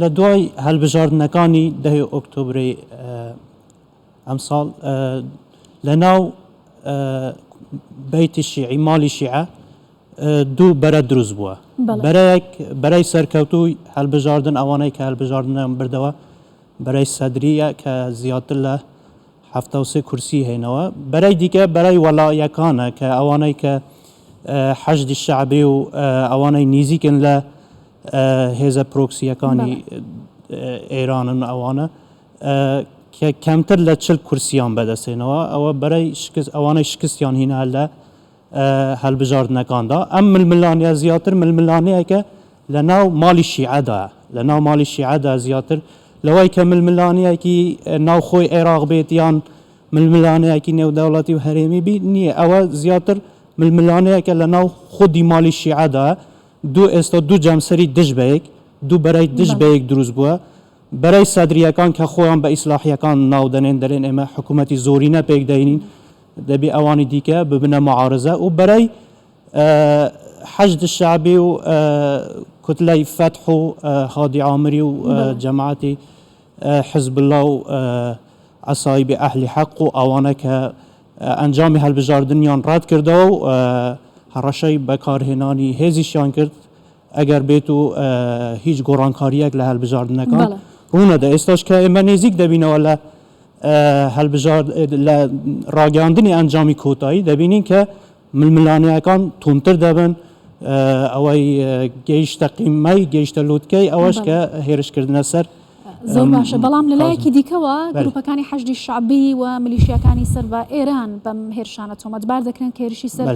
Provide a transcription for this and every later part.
لە دوای هەلبژاردنەکانی دەی ئۆکتۆبری ئەمساڵ لە ناو بەیتی شیعی مالی شیعە دوو بەرە دروست بووە بەرەیەک بەرەی سەرکەوتووی هەلبژاردن ئەوانەی کە هەلبژاردنیان بردەوە بەرەی سەدریە کە زیاتر لە هەفتاوسێ کورسی هێنەوە بەرەی دیکە بەرەی وەلایەکانە کە ئەوانەی کە حەشدی شعبی و ئەوانەی نیزیکن لە هێزە پرۆکسییەکانی ئێرانن ئەوانە کە کەمتر لە چل کورسییان بەدەستهێناوە، ئەوە بەرەی ئەوانەی شکستیان هینا لە هەڵبژاردنەکاندا. ئەم ململانێیە زیاتر ململانێیەکە لە ناو ماڵی شیعەدایە، لە ناو ماڵی شیعەدا زیاتر لەوەی کە ململانێیەکی ناوخۆی عێراق بێت یان ململانێیەکی نێودەوڵەتی و هەرێمی بی نییە، ئەوە زیاتر ململانێیەکە لە ناو خودی ماڵی شیعەدا، دوو ئێستا دوو جەمسەری دژ بەیەک، دوو بەرەی دژ بە یەک دروست بووە. بەرەی سەدرییەکان کە خۆیان بە ئیسلاحییەکان ناو دەنێن، دەلێن ئێمە حکوومەتی زۆرینە پێک دەهێنین، دەبێ ئەوانی دیکە ببنە موعارزە و بەرەی حەشد شەعبی و کوتلەی فەتح و هادی عامری و جەماعەتی حزبوڵا و عەسائیبی ئەهلی حەق و ئەوانە کە ئەنجامی هەلبژاردنیان ڕەتکردەوە و هەڕەشەی بەکارهێنانی هێزیشیان کرد ئەگەر بێت و هیچ گۆڕانکاریەک لە هەلبژاردنەکان ڕوونەدا ئێستاش کە ئێمە نێزیک دەبینەوە لە هەلبژار لە ڕاگەاندنی ئەنجامی کۆتایی دەبینین کە ململانێیەکان توندتر دەبن، ئەوەی گەیشتە قیممەی، گەیشتە لووتکەی، ئەوەش کە هێرشکردنە سەر. زۆر باشە، بەڵام لە لایەکی دیکەوە گرووپەکانی حەشدی شەعبی و میلیشیاکانی سەر بە ئێران بەم هێرشانە تۆمەتبار دەکرێن کە هێرشی سەر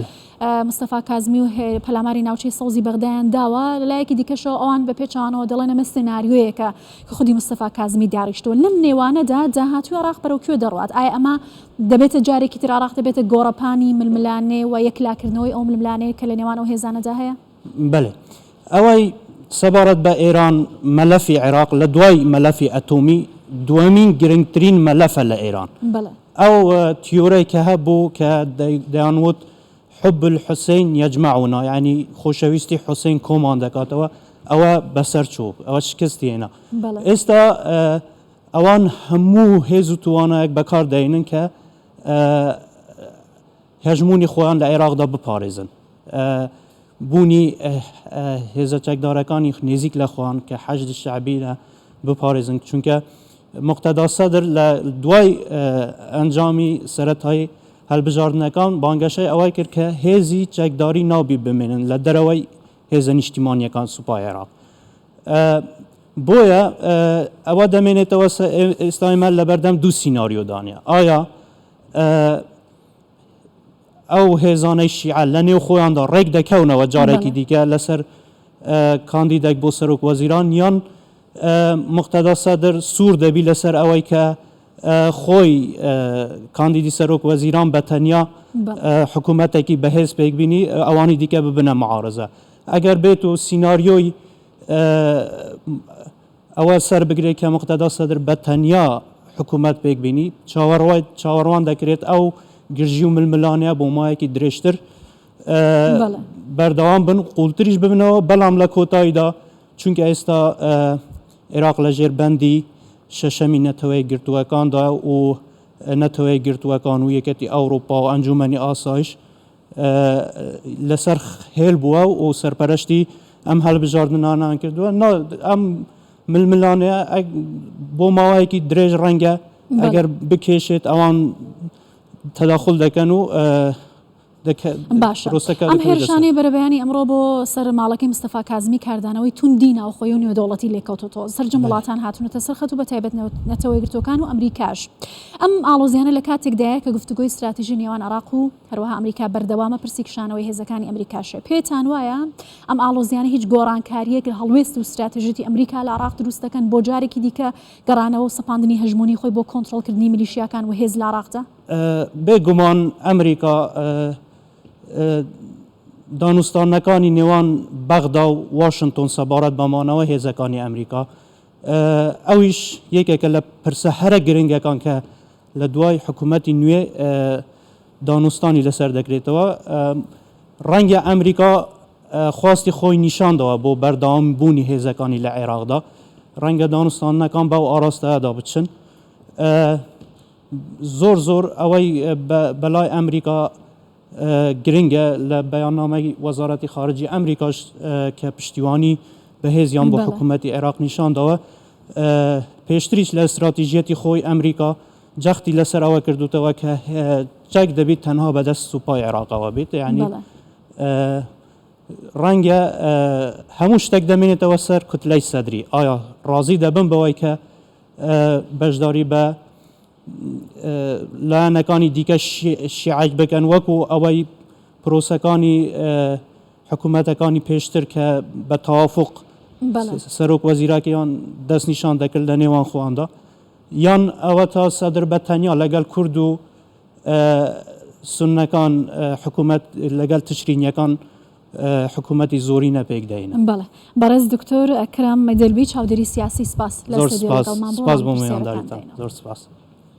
مستەفا کازمی و پەلاماری ناوچەی سەوزی بەغدایان داوە، لە لایەکی دیکەشەوە ئەوان بە پێچەوانەوە دەڵێن ئەمە سناریۆیەکە کە خودی مستەفا کازمی داڕیشتووە. لەم نێوانەدا داهاتووی عێراق بەرەو کوێ دەڕوات؟ ئایا ئەمە دەبێتە جارێکی تر عێراق دەبێتە گۆڕەپانی ململانێ و یەکلاکردنەوەی ئەو ململانێیە کە لە نێوان ئەو هێزانەدا هەیە؟ بەلێ. ئەوەی سەبارەت بە ئێران، مەلەفی عێراق لە دوای مەلەفی ئەتۆمی دووەمین گرنگترین مەلەفە لە ئێران. ئەو تیۆرەی کە هەبوو کە دەیانوت حب الحسین یجمعنا یانی خۆشەویستی حسین کۆمان دەکاتەوە، ئەوە بەسەر چوو، ئەوە شکستی هێنا. ئێستا ئەوان هەموو هێز و توانایەک بەکار دەهێنن کە هەژموونی خۆیان لە عێراقدا بپارێزن. بوونی هێزە چەکدارەکانی نێزیک لە خۆیان کە حەشدی شەعبیرە بپارێزن، چونکە موقتەدا سەدر لە دوای ئەنجامی سەرەتایی هەلبژاردنەکان بانگەشەی ئەوەی کرد کە هێزی چەکداری نابی بمێنن لە دەرەوەی هێزە نیشتیمانییەکان سوپای عێراق. بۆیە ئەوە دەمێنێتەوە ئێستای مە لەبەردەم دوو سیناریۆدانە ئایا ئەو هێزانەی شیعە لە نێو خۆیاندا ڕێک دەکەونەوە جارێکی دیکە لەسەر کاندیدێک بۆ سەرۆک وەزیران یان مختدا سەدر سوور دەبی لەسەر ئەوەی کە خۆی کاندیدی سەرۆک وەزیران بە تەنیا حکوومەتێکی بەهێز پێک بینی ئەوانی دیکە ببنە معارزە ئەگەر بێت و سینناریۆی ئەوە سەر بگرێت کە مختدا سەدر بە تەنیا حکوومەت پێک بینی چاوەڕوای چاوەڕوان دەکرێت ئەو گرژی و ململانەیە بۆ مایەکی درێژتر بەردەوام بن قوڵتریش ببنەوە بەڵام لە کۆتاییدا چونکە ئێستا عێراق لە ژێر بەندی شەشەمی نەتەوەیەکگرتووەکاندا و نەتەوەیەکگرتووەکان و یەکێتی ئەوروپا و ئەنجومەنی ئاسایش لەسەر هێل بووە و سەرپەرشتی ئەم هەڵبژاردنانان کردووە ئەم ململانێ بۆ ماوەیەکی درێژ ڕەنگە ئەگەر بکێشێت ئەوان تەداخل دەکەن و باشە ئەم هێرشانەی بەرەبەیانی ئەمڕۆ بۆ سەر ماڵەکەی مستەفا کازمی کاردانەوەی توندی ناوخۆی و نێودەوڵەتی لێکەوتۆتەوە سەرجەم وڵاتان هاتونەتە سەر خەت و بە تایبەت نەتەوە یەکگرتوەکان و ئەمریکاش ئەم ئاڵۆزیانە لە کاتێکدایە کە گفتوگۆی ستراتیژی نێوان عراق و هەروەها ئەمریکا بەردەوامە پرسی کشانەوەی هێزەکانی ئەمریکاشێ پێتان وایە ئەم ئاڵۆزیانە هیچ گۆڕانکاریەک لە هەڵوێست و ستراتیژیتی ئەمریکا لە عراق دروست دەکەن بۆ جارێکی دیکە گەڕانەوە و سەپاندنی هەژمونی خۆی بۆ کۆنتترۆلکردنی ملیشیاکان و هێز لە عراقدا بێ گومان ئەمریکا دانوستانەکانی نێوان بەغدا و واشنتۆن سەبارەت بە مانەوەی هێزەکانی ئەمریکا ئەویش یەکێکە لە پرسە هەرە گرنگەکان کە لە دوای حکوومەتی نوێ دانوستانی لەسەر دەکرێتەوە ڕەنگە ئەمریکا خواستی خۆی نیشاندەوە بۆ بەردەوام بوونی هێزەکانی لە عێراقدا ڕەنگە دانوستانەکان بەو ئاراستەدا بچن زۆر زۆر ئەوەی بە لای ئەمریکا گرنگە لە بەیاننامەی وەزارەتی خارجی ئەمریکاش کە پشتیوانی بەهێزیان بۆ حکوومەتی عێراق نیشان داوە پێشتریش لە استراتیژیەتی خۆی ئەمریکا جەختی لەسەر ئەوە کردوتەوە کە چەک دەبیت تەنها بەدەست سوپای عێراقەوە بێت یعنی ڕەنگە هەموو شتێک دەمێنێتەوە سەر کوتلەی سەدری ئایا ڕازی دەبم بەوەی کە بەشداری بە لایەنەکانی دیکە شیعەک بکەن وەکو ئەوەی پرۆسەکانی حکوومەتەکانی پێشتر کە بە تەوافق سەرۆک وەزیراکەیان دەست نیشان دەکرد لە نێوان خۆیاندا یان ئەوە تا سەدر بە تەنیا لەگەڵ کورد و سنەکان حکوومەت لەگەڵ تشرینیەکان حکومەتی زۆرینە پێک دەهینن. بەڵێ بەڕێز دکتۆر ئەکرەم مەدەلبی چاودێری سیاسی سپاس لە زۆر ستۆدیۆ سپاس لەگەڵمان بوون سپاس بۆ مێوانداریتان زۆر سپاس.